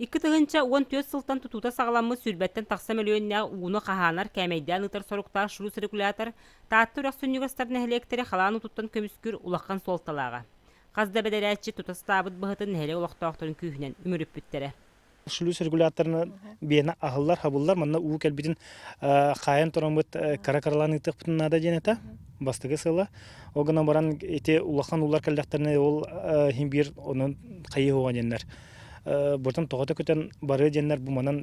Икки тыһыынча уон түөрт сылтан тутуута саҕаламмыт сүүрбэттэн тахса мөлүйүөннээх ууну хаһаанар кээмэйдээн ыытар соруктаах шрус-регулятор Таатта үрэх сүнньүгэстэр нэһилиэктэрэ халаан утуттан көмүскүүр улахан суолталааҕа. Хас да бэдэрээтчи тута сатаабыт быһытын нэһилиэк олохтоохторун күүһүнэн үмүрүппүттэрэ. Шлюз регуляторына биэна аһыллар хабыллар манна уу кэлбитин хаайан тороммут кыра кыралаан ыытыахпытын наада диэн этэ бастакы сыла ол гынан баран ити улахан уулар кэллэхтэринэ ол биир онон хайыы хоҕа диэннэр быртым тоҕото көтөн барыы диэннэр бу манан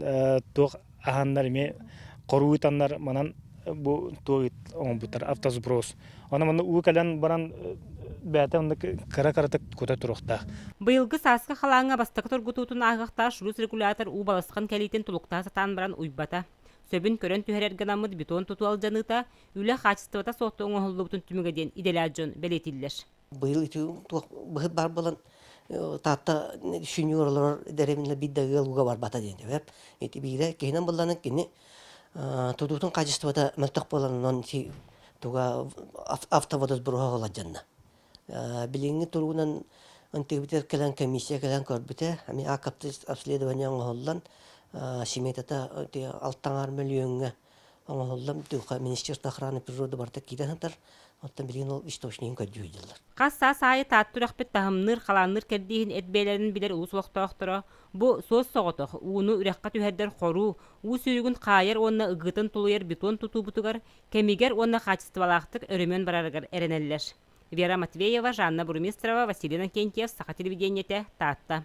туох аһаннар эми хоруу ытаннар манан бу туох ыт оҥорбуттар автосброс аны манна уу кэлэн баран бэйэтэ онно кыра кыратык кута туруохтаах быйылгы сааскы халааҥҥа бастакы тургутуутун ааһыахтаах шрус регулятор уу балысхан кэлиитин тулуктаа сатаан баран уйбата сөбүн көрөн түһэрэр гынаммыт бетон туту алдьаныыта үлэ хаачыстыбата суохта оҥоһуллубутун түмүгэ диэн идэлээх дьон бэлиэтииллэр Быйыл ити туох быһыт баар буолан Таатта сеньор олорор дэриминэ биир да ыал уга барбата диэн дэбэп. Ити биирэ киһинэн булланын кини тутуутун хаачыстыбата мөлтөх буоланынан ити туга автоводосбуруһа холаджанна. Билиҥҥи туругунан антигибитер кэлэн комиссия кэлэн көрбүтэ ами ааккапты обследование оҥоһуллан семетата алтаҥар мөлүйүөҥҥэ оҥоһуллан дууха Министерство охраны природы барыта киирэн сытар, оттон билигин ол источнигын көрдьүһүйдүлэр. Хас саас аайы Таатта үрэхпит таһымныыр, халаанныыр кэрдииһин эт бэйэлэрин билэр улус олохтоохторо бу суос соҕотох, ууну үрэххэ түһэрдэр хоруу, уу сүүрүгүн хаайар уонна ыгыытын тулуйар бетон тутуубутугар, кэмигэр уонна хаачыстыбалаахтык өрөмүөн барарыгар эрэнэллэр. Вера Матвеева, Жанна Бурмистрова, Василий Иннокентьев, Саха телевидениетэ, Таатта.